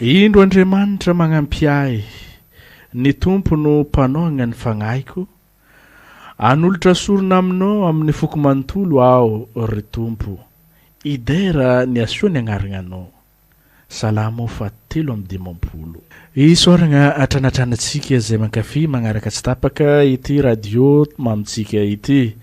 Indro Andriamanitra magnampy ahy, ny Tompo no mpanaogna ny fagnahiko, hanolotra sorona aminao amin'ny foko manontolo aho ry Tompo, hidera ny hasoa ny agnarananao. Salamo faha telo amby dimampolo. Isaoragna hatranatranatsika izay mankafy magnaraka tsy tapaka ity radio mamintsika ity.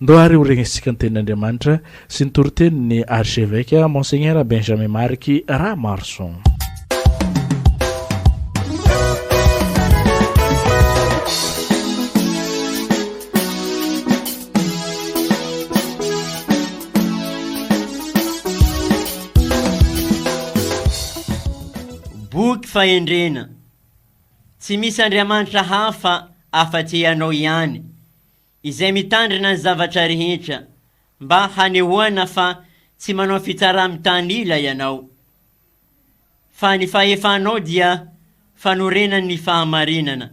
Ndao ary ho regnesintsika ny tenin'Andriamanitra sy ny toritenin'ny Archevêque Monseigneur Benjamin Marc Rahamarison. Boky fahendrena. Tsy misy Andriamanitra hafa afa-tsy Ianao ihany. izay mitandrina ny zavatra rehetra mba hanehoana fa tsy manao fitsaramitanila ianao, fa ny fahefanao dia fanorenan' ny fahamarinana,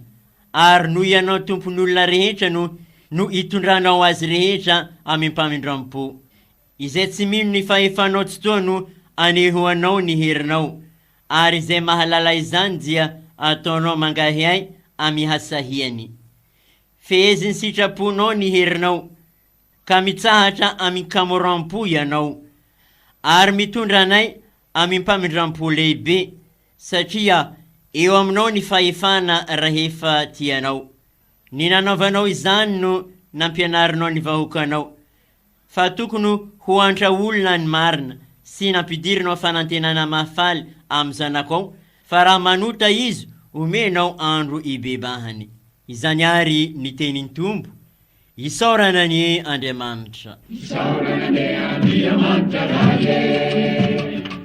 ary noho ianao tompon' olona rehetra no no itondranao azy rehetra amim-pamindram-po, izay tsy mino ny fahefanao tsy toa no anehoanao ny herinao, ary izay mahalala izany dia ataonao mangahiahy amihasahiany. Fehezin'ny sitraponao ny herinao, ka mitsahatra amin-kamoram-po ianao, ary mitondra anay amim-pamindram-po lehibe, satria eo aminao ny fahefana rahefa tianao. Ny nanaovanao izany no nampianarinao ny vahoakanao. Fa tokony ho antra olona ny marina sy nampidirinao fanantenana mahafaly am zanako ao fa raha manota izy omenao andro ibebahany. Izany ary ny tenin Tompo. Isaorana anie Andriamanitra. Isaorana anie Andriamanitra ray e.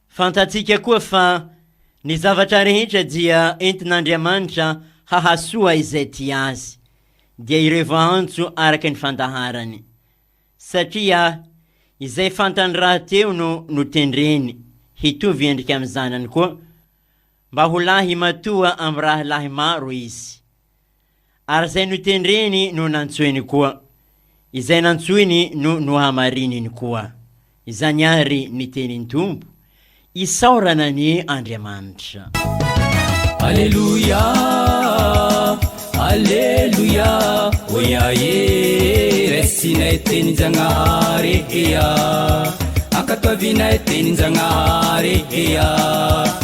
Fantatsika koa fa ny zavatra rehetra dia entin'Andriamanitra hahasoa izay tia Azy, dia ireo voaantso araka ny fandaharany. Satria izay fantany rahateo no notendreny hitovy endrika amin'ny Zanany koa, mba ho lahy matoa amin'ny rahalahy maro izy. Ary izay notendreny no nantsoiny koa, izay nantsoiny no nohamarininy koa. Izany àry ny tenin'ny Tompo, Isaorana an' Andriamanitra. Aleloia, aleloia, oia e, Raisinay tenin-Jagnahare eia, Ankatoavinay tenin-Jagnahare eia.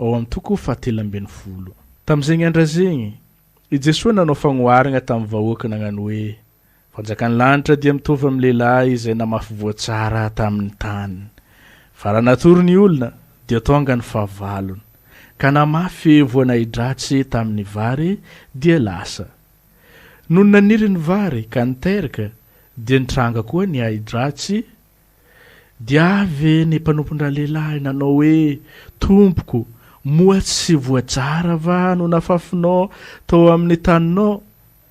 ao amin'ny toko fahatelo ambin'ny folo. Tamin'izegny andra izegny, i Jesoa nanao fagnoharagna tamin'ny vahoaka nagnano hoe, Fanjakan'ny lanitra dia mitovy amin'ny lehilahy izay namafy voa tsara tamin'ny tany. Fa raha natory ny olona, dia tonga ny fahavalony, ka namafy voa nahi-dratsy tamin'ny vary, dia lasa. Nony naniry ny vary ka niteraka, dia nitranga koa ny ahi-dratsy Dia avy ve ny mpanompon-dralehilahy nanao hoe, Tompoko, moa tsy voajara va no nafafinao tao amin'ny taninao?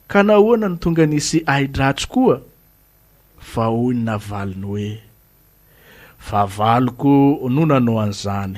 Ka nahoana no tonga nisy ahi-dratsy koa? Fa hoy ny navaliny hoe, Fahavaloko no nanao an'izany.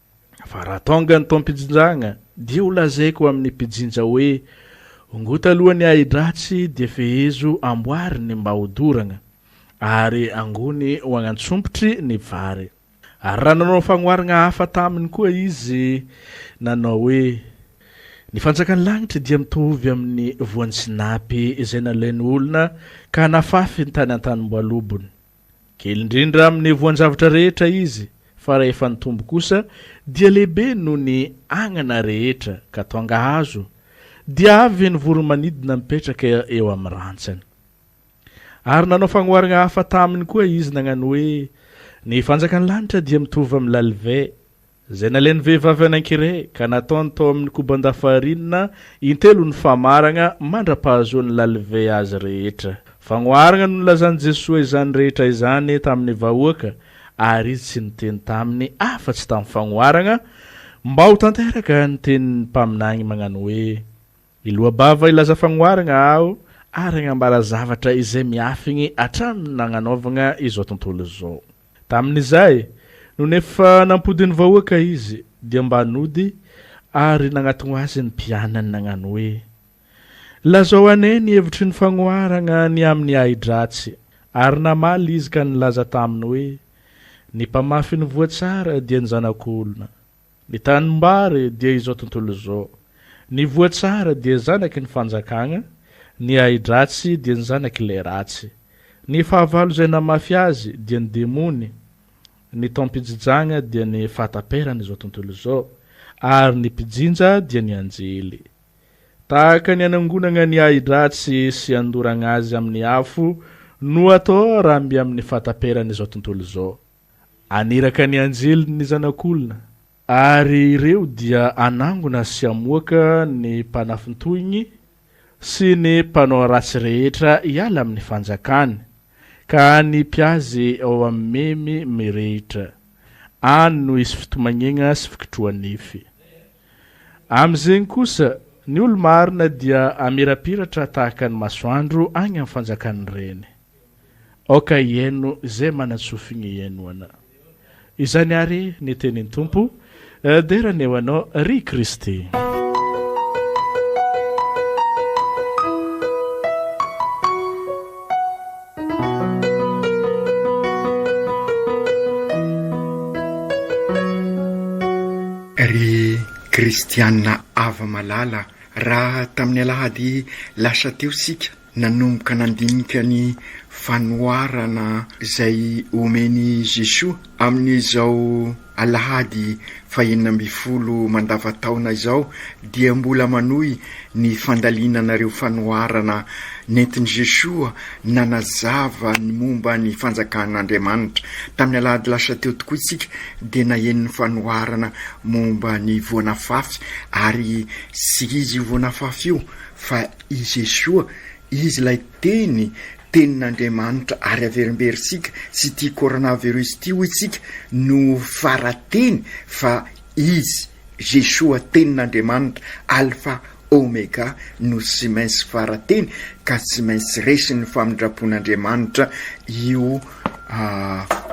fa raha tonga ny taom-pijinjagna dia ho lazaiko amin'ny mpijinja hoe, Ongota aloha ny ahi-dratsy dia fehezo amboary ny mba ho doragna, ary angony ho agnantsompitry ny vary. Ary raha nanao fagnoharagna hafa taminy koa izy, nanao hoe, Ny fanjakan'ny lagnitry dia mitovy amin'ny voan'ny sinapy izay nalain'ny olona ka nafafiny tany an-tanimboalobony. Kely indrindra amin'ny voan-javatra rehetra izy, fa rahefa nitombo kosa, dia lehibe noho ny agnana rehetra, ka tonga hazo, dia avy ny voro-manidina mipetraka eo amin'ny rantsany. Ary nanao fagnoharana hafa taminy koa izy nagnano hoe, Ny fanjakan'ny lanitra dia mitovy amin'ny lalivay, Izay nalain'ny vehivavy anankiray ka nataony tao amin'ny koban-dafarinina intelo ny famaragna mandra-pahazoan'i Lalivay azy rehetra. Fagnoharagna no nilazan'i Jesoa izany rehetra izany tamin'ny vahoaka ary Izy tsy niteny taminy afa-tsy tamin'ny fagnoharagna mba ho tanteraka ny tenin'ny mpaminany mañano hoe, Hiloa-bava hilaza fagnoharagna aho ary hagnambara zavatra izay miafigny hatramin'ny nagnanaovagna izao tontolo izao. Tamin'izay, nony efa nampodin'ny vahoaka izy, dia mba nody ary nagnatogno azy ny mpianany nagnano hoe, Lazao anay ny hevitry ny fagnoharagna ny amin'ny ahi-dratsy. Ary namaly izy ka nilaza taminy hoe, Ny mpamafy ny voa tsara dia ny Zanak'olona. Ny tanimbary dia izao tontolo izao. Ny voa tsara dia zanaky ny fanjakagna, ny ahidratsy dia ny zanak'ilay ratsy. Ny fahavalo izay namafy azy dia ny demony, ny taom-pijijagna dia ny fahataperan'izao tontolo izao, ary ny mpijinja dia ny anjely. Tahaka ny anangonagna ny ahidratsy sy andoragna azy amin'ny afo no atao raha mby amin'ny fahataperan'izao tontolo izao. Haniraka ny anjeliny ny Zanak'olona, ary ireo dia hanangona sy hamoaka ny mpanafintohiny sy ny mpanao ratsy rehetra hiala amin'ny fanjakany, ka hanipy azy ao amin'ny memy mirehitra, any no hisy fitomagnegna sy fikitroha-nify. Amin'izegny kosa, ny olo-marina dia hamirapiratra tahaka ny masoandro agny amin'ny fanjakan'ny Reny. Aoka hihaino izay manan-tsofigny hihaino Ana. Izany àry ny tenin'ny Tompo, Dera ny eo Anao, ry Kristy. Ry Kristiana ava-malala, raha tamin'ny alahady lasa teo isika, Nanomboka nandinika ny fanoharana izay omen'i Jesoa amin'izao alahady fahenina ambin'ny folo mandavan-taona izao dia mbola manohy ny fandalinana ireo fanoharana nentin'i Jesoa nanazava ny momba ny fanjakan'Andriamanitra. Tamin'ny alahady lasa teo tokoa isika dia naheno ny fanoharana momba ny voan'afafy ary tsy izy io voan'afafy io fa Izy Yeshua, Izy ilay Teny, Tenin'Andriamanitra, ary averimberintsika sy ity coronavirus ity hoy tsika no fara-teny fa Izy, Yeshua, Tenin'Andriamanitra, Alpha, Omega, no tsy maintsy fara-teny ka tsy maintsy resin'ny famindrapon'Andriamanitra io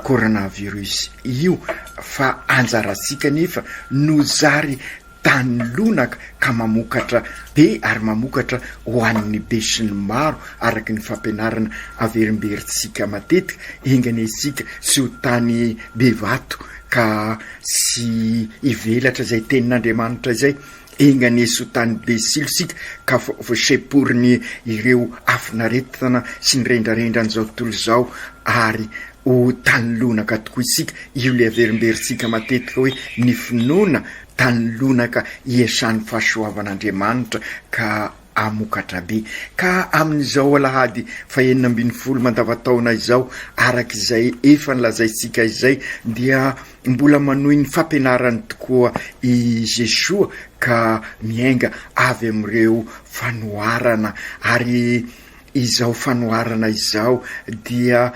coronavirus io fa anjarantsika anefa no zary tany lonaka ka mamokatra be ary mamokatra ho an'ny besinimaro araka ny fampianarana averimberintsika matetika, enga anie isika tsy ho tany be vato ka tsy hivelatra izay tenin'Andriamanitra izay, enga anie tsy ho tany be silo isika ka voasemporin'ireo afon'aretina sy ny rendrarendran'izao tontolo izao ary Ho tany lonaka tokoa isika, io ilay averimberintsika matetika hoe ny finoana tany lonaka hiasan'ny fahasoavan'Andriamanitra ka hamokatra be. Ka amin'izao alahady fahenina ambin'ny folo mandavantaona izao, araka izay efa nolazaintsika izay, dia mbola manohy ny fampianarany tokoa i Jesoa ka miainga avy amin'ireo fanoharana ary Izao fanoharana izao dia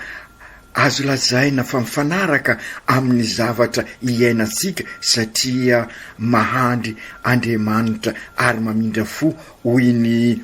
azo lazaina fa mifanaraka amin'ny zavatra iainantsika satria mahandry Andriamanitra ary mamindra fo hoy ny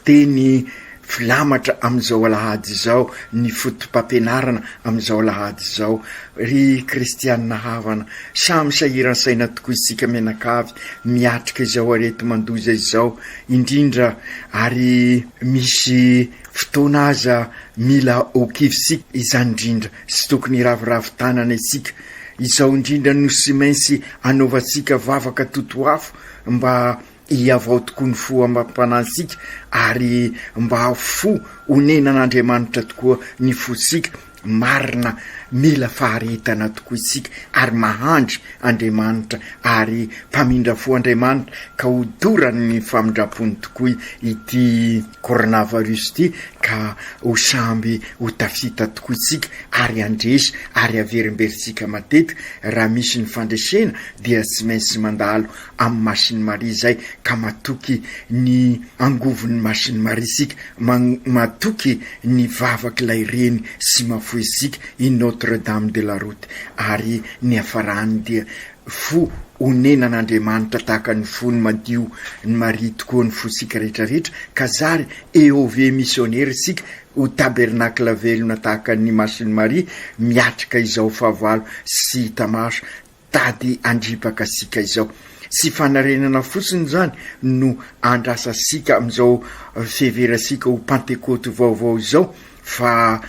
teny filamatra amin'izao alahady izao, ny fotopampianarana amin'izao alahady izao. Ry kristiana havana, samy sahiran-saina tokoa isika mianakavy miatrika izao areti-mandoza izao. indrindra ary misy fotoana aza mila ho kivy sika izany indrindra sy tokony hiraviravy tanana isika izao indrindra no sy mainsy anaovantsika vavaka totoafo mba hiavao tokoa ny fo amam-panantsika ary mba fo honenan'Andriamanitra tokoa ny fo sika Marina, mila faharetana tokoa isika ary mahandry Andriamanitra ary mpamindra fo Andriamanitra ka ho dorany ny famindrampony tokoa ity coronavirus ity ka ho samby ho tafita tokoa isika ary handresy ary haverimberitsika matetika raha misy ny fandresena dia tsy maintsy mandalo amin'ny Masiny Maria izay ka matoky ny angovon'ny Masiny Maria isika, matoky ny vavak'ilay Reny sy mahafoy isika i Notre Dame de la Route ary ny hiafarany dia fo onenan'Andriamanitra tahaka ny fony madio ny Maria tokoa ny fosika rehetrarehetra ka zary EOV misionera isika ho tabernakla velona tahaka ny Masiny Maria miatrika izao fahavalo sy hita maso Tady handripaka sika izao. Tsy fanarenana fotsiny izany no andrasa sika amin'izao fihevera sika ho pantekoty vaovao izao fa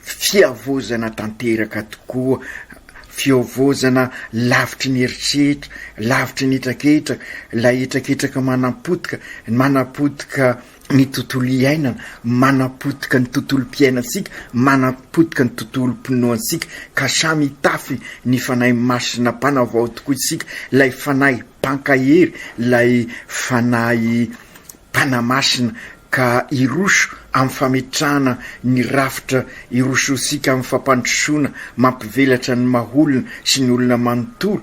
fiavozana tanteraka tokoa, fiavozana lavitry ny eritreritra, lavitry ny hetraketraka, ilay hetraketraka manampotika, manapotika, ny tontolo iainana, manapotika ny tontolom-piainantsika, manapotika ny tontolom-pinoantsika, ka samy hitafy ny Fanahy Masina Mpanavao tokoa isika, ilay Fanahy Mpankahery, ilay Fanahy Mpanamasina, ka hiroso amin'ny fametrahana ny rafitra hirosoantsika amin'ny fampandrosoana mampivelatra ny maha-olona sy ny olona manontolo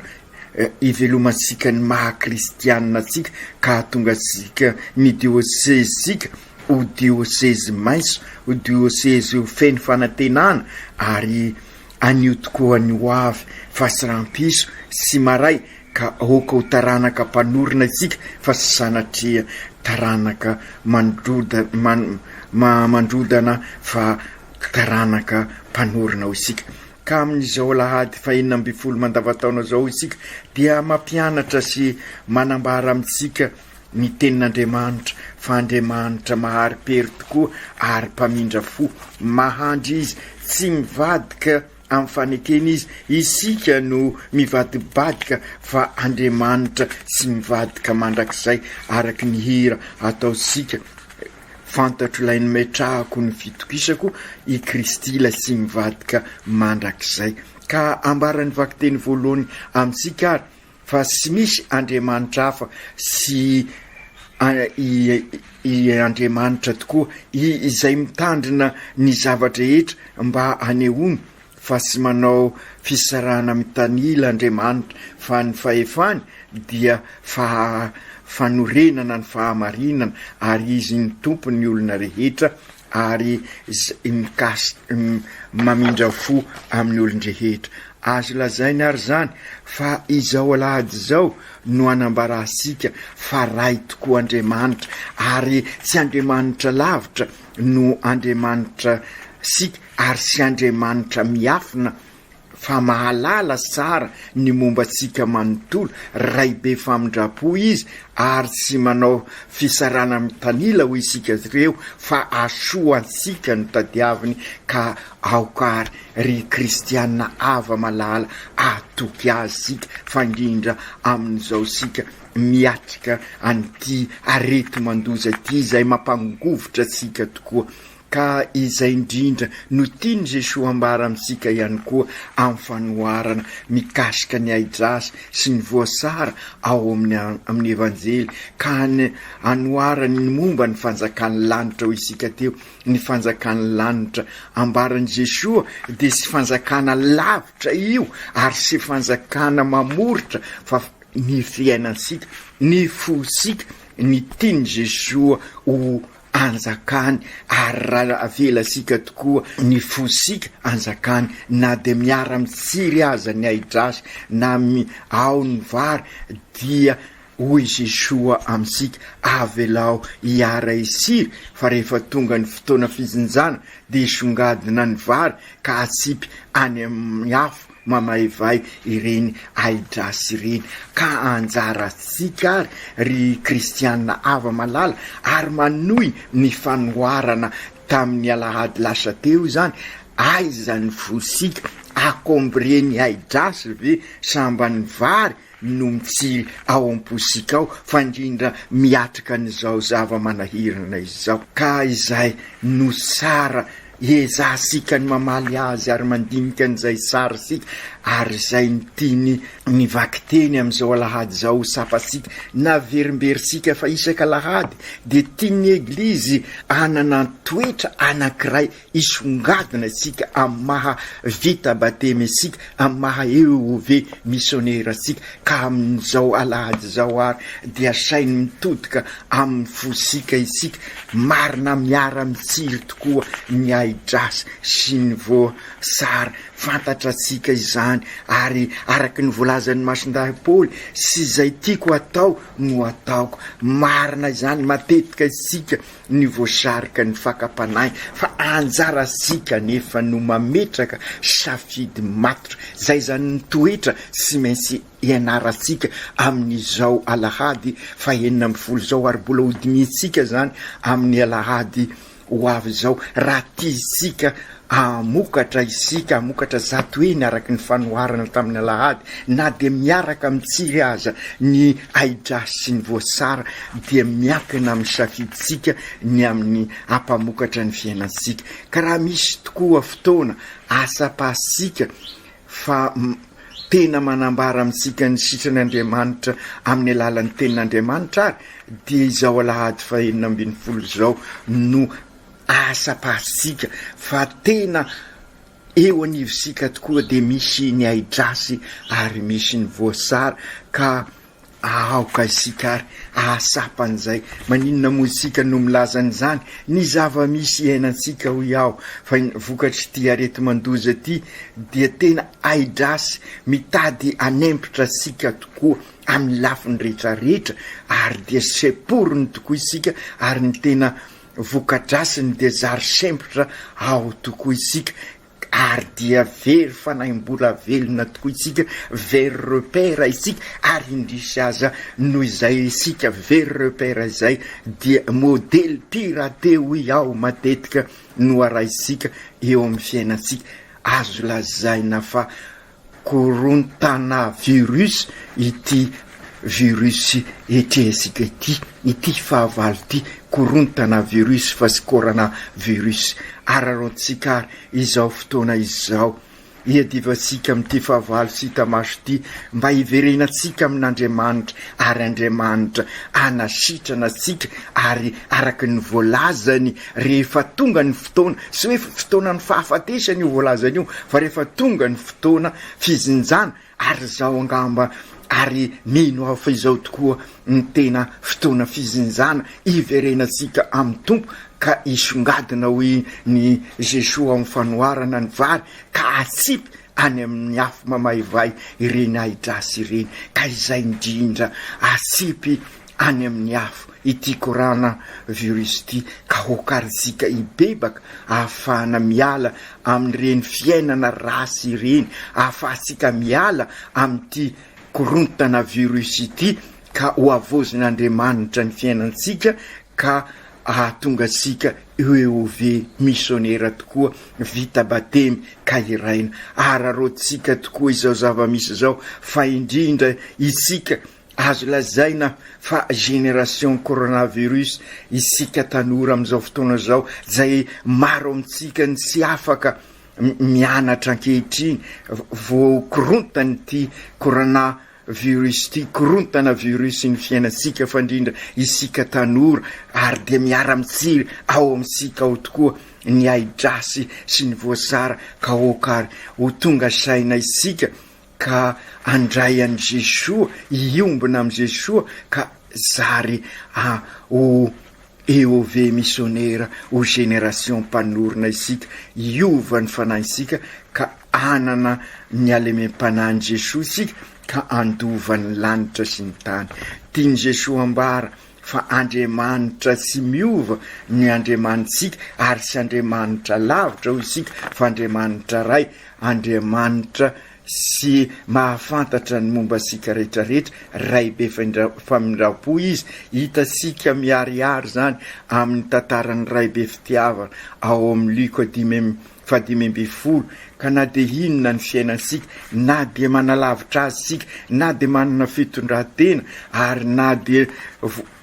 hivelomantsika ny maha kristianina antsika ka hahatonga antsika ny diosezintsika ho diosezy maitso, ho diosezy ho feno fanantenana ary anio tokoa ny ho avy fa tsy rahampitso sy maray ka aoka ho taranaka mpanorina isika fa tsy sanatria taranaka mandrodana fa taranaka mpanorina ho isika. Ka amin'izao alahady fahenina ambin'ny folo mandavantaona izao isika dia mampianatra sy manambara amintsika ny tenin'Andriamanitra fa Andriamanitra mahari-pery tokoa ary mpamindra fo, mahandry Izy, tsy mivadika amin'ny fanekena Izy, isika no mivadibadika fa Andriamanitra tsy mivadika mandrakizay araka ny hira ataontsika. Fantatro ilay nometrahako ny fitokisako i Kristy ilay tsy mivadika mandrakizay. Ka ambaran'ny vakiteny voalohany amintsika ary fa tsy misy andriamanitra hafa sy i Andriamanitra tokoa izay mitandrina ny zava-drehetra mba hanehoany fa tsy manao fisarahana mitanila Andriamanitra fa ny fahefany dia faha fanorenana ny fahamarinana ary izy no tompo ny olona rehetra ary zay mikas mamindra fo amin'ny olon-drehetra azo lazaina ary zany fa izao alahady izao no anambarantsika fa Ray tokoa Andriamanitra ary tsy Andriamanitra lavitra no Andriamanitra sika Ary tsy Andriamanitra miafina fa mahalala tsara ny momba antsika manontolo, Ray be famindram-po Izy ary tsy manao fisarahana mitanila ho isika ireo fa hasoa antsika no tadiaviny ka aoka ary ry kristiana hava malala hatoky Azy isika fa indrindra amin'izao isika miatrika an'ity areti-mandoza ity izay mampangovitra antsika tokoa. Ka izay indrindra no tian'i Jesoa hambara amintsika ihany koa amin'ny fanoharana mikasika ny ahidrasa sy ny voasara ao amin'ny Evanjely ka anoharany ny momba ny fanjakan'ny lanitra hoy isika teo, ny fanjakan'ny lanitra ambaran'i Jesoa dia sy fanjakana lavitra io ary sy fanjakana mamoritra fa ny fiainantsika, ny fosika, ny tian'i Jesoa ho anjakany ary raha avelasika tokoa ny fosika anjakany na dia miara mitsiry aza ny ahidrasy na mi ao ny vary dia hoy Jesoa amintsika avelao hiara hisiry fa rehefa tonga ny fotoana fijinjana dia songadina ny vary ka atsipy any amin'ny afo mamaivay ireny ahidrasy ireny, ka anjarantsika ary, ry kristiana hava-malala, ary manohy ny fanoharana tamin'ny alahady lasa teo izany, aiza ny fosika? Akombrie ny ahidrasy ve sambany vary no mitsiry ao am-posika ao fa indrindra miatrika an'izao zava-manahirana izao ka izay no tsara ezahantsika ny mamaly azy ary mandinika an'izay tsara isika ary izay ny tiany ny vakiteny amin'izao alahady izao ho tsapantsika naverimberintsika fa isaka alahady dia tian'ny eglizy hanana toetra anankiray Hisongadina isika amin'ny maha vita batemy antsika, amin'ny maha EOV misionera antsika, ka amin'izao alahady izao àry dia saino mitodika amin'ny fosika isika, marina miara-mitsiry tokoa ny ahi-drasy sy ny voasary, fantatra antsika izany, ary araka ny voalazan'ny Masindahy Paoly, Sy izay tiako hatao no ataoko. Marina izany, matetika isika ny voasarika ny fakam-panahy fa anjarantsika anefa no mametraka safidy matotra izay izany ny toetra tsy maintsy ianarantsika amin'izao alahady fahenina ambin'ny folo izao ary mbola hodinihintsika izany amin'ny alahady ho avy izao raha tiantsika Hamokatra isika, hamokatra zato heny araka ny fanoharana tamin'ny alahady, na dia miaraka amin'ny tsiry aza ny ahidrasy sy ny voasara, dia miankina amin'ny safidintsika ny amin'ny hampamokatra ny fiainantsika. Ka raha misy tokoa fotoana ahatsapasika fa tena manambara amintsika ny sitran'Andriamanitra amin'ny alalan'ny Tenin'Andriamanitra ary, dia izao alahady fahenina ambin'ny folo izao no Asa pahatsika fa tena eo anivontsika tokoa dia misy ny ahidrasy ary misy ny voasary ka aoka isika ary ahatsapa an'izay. Maninona moa isika no milaza an'izany? Ny zava-misy iainantsika hoy aho fa vokatr'ity areti-mandoza ity dia tena ahidrasy mitady hanempotra antsika tokoa amin'ny lafiny rehetra rehetra ary dia semporiny tokoa isika ary ny tena Vokadrasiny dia zary sempotra ao tokoa isika ary dia very fanahi-mbola velona tokoa isika, very repère isika ary indrisy aza noho izay isika very repère izay dia modely piraté hoy aho matetika no arahintsika eo amin'ny fiainantsika. Azo lazaina fa Korontana virus ity virus etrehintsika ity, ity fahavalo ity, korontana virus fa tsy corona virus. Araraotintsika ary izao fotoana izao. Iadivantsika amin'ity fahavalo tsy hita maso ity, mba hiverenantsika amin'Andriamanitra, ary Andriamanitra hanasitrana antsika, ary araka ny voalazany, Rehefa tonga ny fotoana, tsy hoe fotoanan'ny fahafatesany io voalazany io, fa rehefa tonga ny fotoana fijinjana, ary izao angamba, ary mino aho fa izao tokoa ny tena fotoana fijinjana hiverenantsika amin'ny Tompo, ka hisongadina hoy ny Jesoa amin'ny fanoharana ny vary, ka hatsipy any amin'ny afo mamaivay ireny ahi-dratsy ireny, ka izay indrindra hatsipy any amin'ny afo ity corana virus ity ka ho karijika hibebaka ahafahana miala amin'ireny fiainana ratsy ireny, ahafahantsika miala amin'ity korontana virus ity ka ho havaozin'Andriamanitra ny fiainantsika ka ahatonga antsika UEOV misionera tokoa vita batemy ka hiraina. Araraotintsika tokoa izao zava-misy izao fa indrindra itsika Azo lazaina fa génération coronavirus isika tanora amin'izao fotoana izao izay maro amintsika ny tsy afaka mianatra ankehitriny voakorontan'ity corona virus ity, korontana virus ny fiainantsika fandrindra isika tanora ary dia miara mitsiry ao amintsika ao tokoa ny ahidrasy sy ny voasara ka aoka ary ho tonga saina isika ka handray an'i Jesoa, hiombona amin'i Jesoa ka zary a ho EOV missionnaire ho génération mpanorina isika, hiova ny fanahintsika ka hanana ny halemem-panahin'i Jesoa isika ka handova ny lanitra sy ny tany. Tian'i Jesoa ambara fa Andriamanitra tsy miova ny Andriamanitsika ary tsy Andriamanitra lavitra hoy isika fa Andriamanitra Ray, Andriamanitra sy mahafantatra ny momba antsika rehetra rehetra, Ray be famindrampo Izy, hitantsika miharihary izany amin'ny tantaran'ny Ray be fitiavana ao amin'ny Lioka dimy amby Fahadimy ambin'ny folo, Ka na dia inona ny fiainantsika, na dia manalavitra azy isika, na dia manana fitondran-tena, ary na dia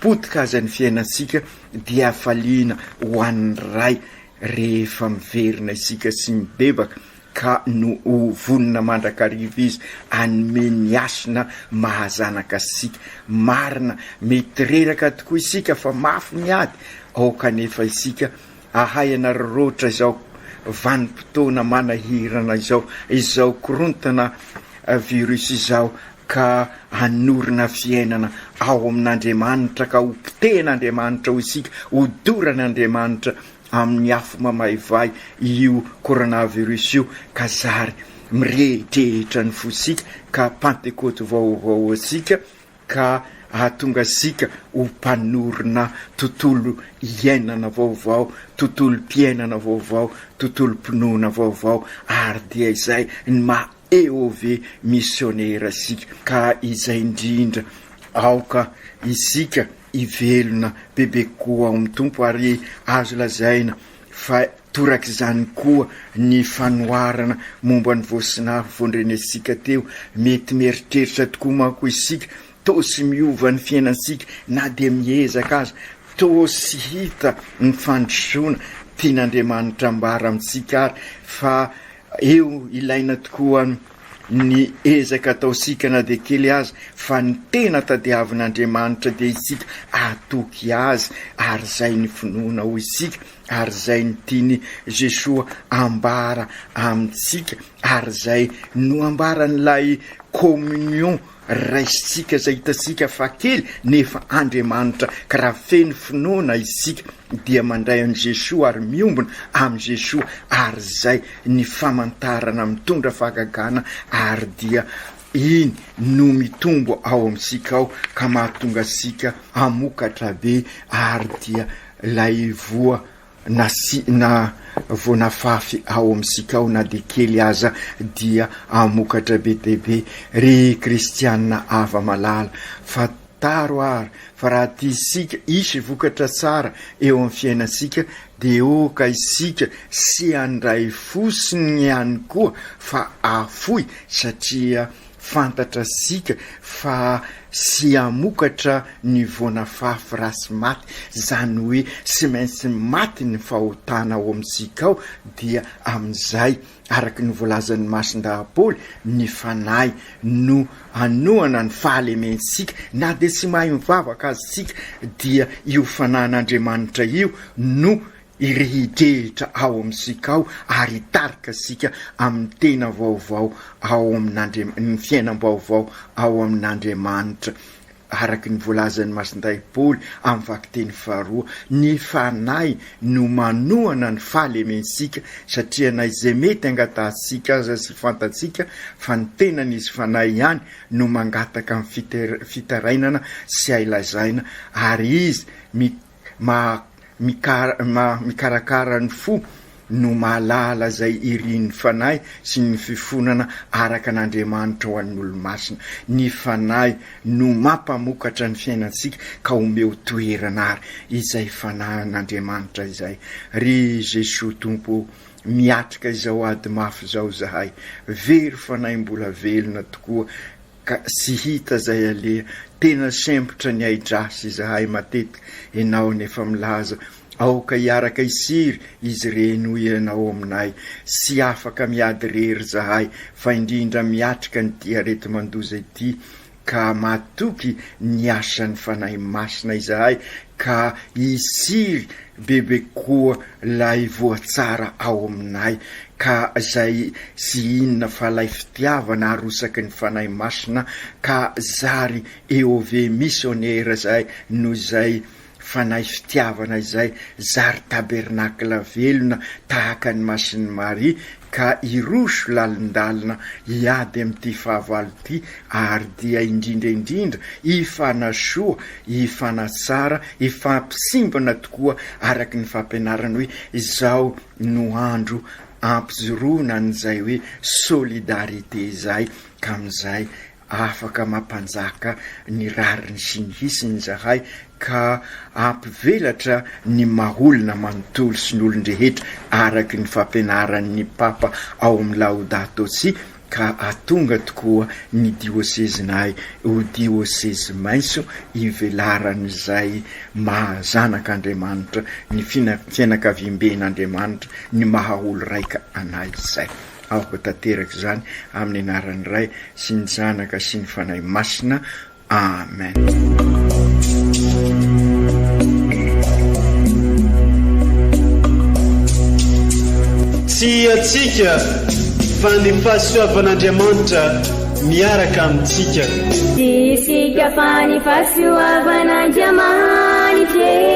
potika aza ny fiainantsika, dia hafaliana ho an'ny Ray rehefa miverina isika sy mibebaka, ka no ho vonona mandrakariva Izy hanome ny hasina maha-zanaka antsika. Marina, mety reraka tokoa isika fa mafy ny ady ao kanefa isika Ahay ianareo roatra izao vanim-potoana manahirana izao, izao korontana virus izao ka hanorina fiainana ao amin'Andriamanitra ka ho potehin'Andriamanitra hoy isika, ho doran'Andriamanitra amin'ny afo mamaivay io coronavirus io ka zary mirehidrehitra ny fosika ka pantekoty vaovao antsika ka hahatonga antsika ho mpanorina tontolo iainana vaovao, tontolom-piainana vaovao, tontolom-pinoana vaovao, ary dia izay ny maha EOV misionera antsika. Ka izay indrindra, aoka isika hivelona bebe kokoa ao amin'ny Tompo, ary azo lazaina fa Torak'izany koa ny fanoharana momba ny voasnavy voandrenesika teo. Mety mieritreritra tokoa manko isika, toa tsy miova ny fiainantsika na dia miezaka aza, toa tsy hita ny fandrosoana. Tian'Andriamanitra ambara amintsika àry fa eo ilaina tokoa ny ezaka ataontsika na dia kely aza, fa ny tena tadiavin'Andriamanitra dia isika hatoky Azy, ary izay ny finoana, hoy isika. ary izay ny tian'i Jesoa ambara amintsika ary izay no ambaran'ilay communion raisintsika izay hitantsika fa kely nefa Andriamanitra ka raha feno finoana isika dia mandray an'i Jesoa ary miombona amin'i Jesoa ary izay ny famantarana mitondra fahagagana ary dia Iny no mitombo ao amintsika ao ka mahatonga antsika hamokatra be ary dia ilay voa nasiana voa nafafy ao amintsika ao na dia kely aza dia hamokatra be dia be. Ry kristianina hava-malala fa Taro ary fa raha tia isika hisy vokatra tsara eo amin'ny fiainantsika dia oka isika sy handray fo sy ny ihany koa fa afoy satria fantatra isika fa sy hamokatra ny voana fafy rasy maty izany hoe sy maintsy maty ny fahotana ao amintsika ao dia amin'izay Araka ny voalazan'ny masin-dahaboly, ny fanahy no anohana ny fahalementsika. Na dia tsy mahay mivavaka aza isika, dia io fanahin'Andriamanitra io no irehidrehitra ao amintsika ao ary hitarika antsika amin'ny tena vaovao ao amin'Andriamanitra, ny fiainam-baovao ao amin'Andriamanitra. Araka ny voalazan'i Masindahy Paoly amin'ny vakiteny faharoa, ny Fanahy no manohana ny fahalementsika, satria na izay mety angatahantsika aza sy fantatsika fa ny tenany izy Fanahy ihany no mangataka ny fitarainana sy hay lazaina ary izy Maha maha mikarakara ny fo no mahalala izay irin'ny fanahy sy ny fifonana araka an'Andriamanitra ho an'ny olomasina. Ny fanahy no mampamokatra ny fiainantsika ka omeo toerana ary izay fanahin'Andriamanitra izay. Ry Jesoa Tompo ô! Miatrika izao ady mafy izao izahay. Very fanahy mbola velona tokoa ka tsy hita zay aleha tena sempotra ny aidrasy izahay matetika enao ny efa milaza aoka hiaraka hisiry izy ireny hoy ianao aminay tsy afaka miady rery zahay fa indrindra miatrika ny ty areti-mandoza ity ka matoky ny asan'ny fanahy masina izahay ka hisiry bebe koa Lay voa tsara ao aminay ka zay tsy inona fa lay fitiavana arosaky ny Fanahy Masina ka zary EOV Missionnaire zay no zay Fanahy fitiavana izay zary tabernacle velona tahaka ny Masin'i Maria ka hiroso lalindalina hiady amin'ity fahavalo ity ary dia indrindra indrindra hifanasoa, hifanatsara, hifampisimbana tokoa araka ny fampianarany hoe izao no andro hampijoroana an'izay hoe solidarité izay ka amin'izay Afaka mampanjaka ny rariny sy ny hisiny izahay ka hampivelatra ny maha olona manontolo sy ny olon-drehetra araky ny fampianaran' ny Papa ao amin'ny Laudato Si ka hatonga tokoa ny diosezinay ho diosezy mainso ivelaran'izay maha zanak' Andriamanitra ny fianakaviamben' Andriamanitra ny maha olo-raika anay izay. Aoka tanteraka izany amin'ny anaran'ny Ray sy ny Zanaka sy ny Fanahy Masina. Amen. Tsy hiatsika fa ny fahasoavan'Andriamanitra miaraka amintsika. Tsy hiatsika fa ny fahasoavan'Andriamanitra.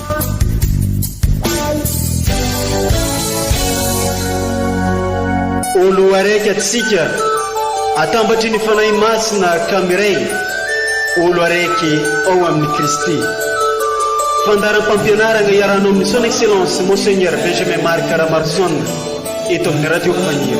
O Loharaiky antsika, atambatry ny Fanahy Masina ka miray, O Loharaiky ao amin'i Kristy. Fandaharam-pampianaragna iarahanao amin'i Son Excellence Monseigneur Benjamin Marc Ramarson eto amin'ny Radio Fanilo.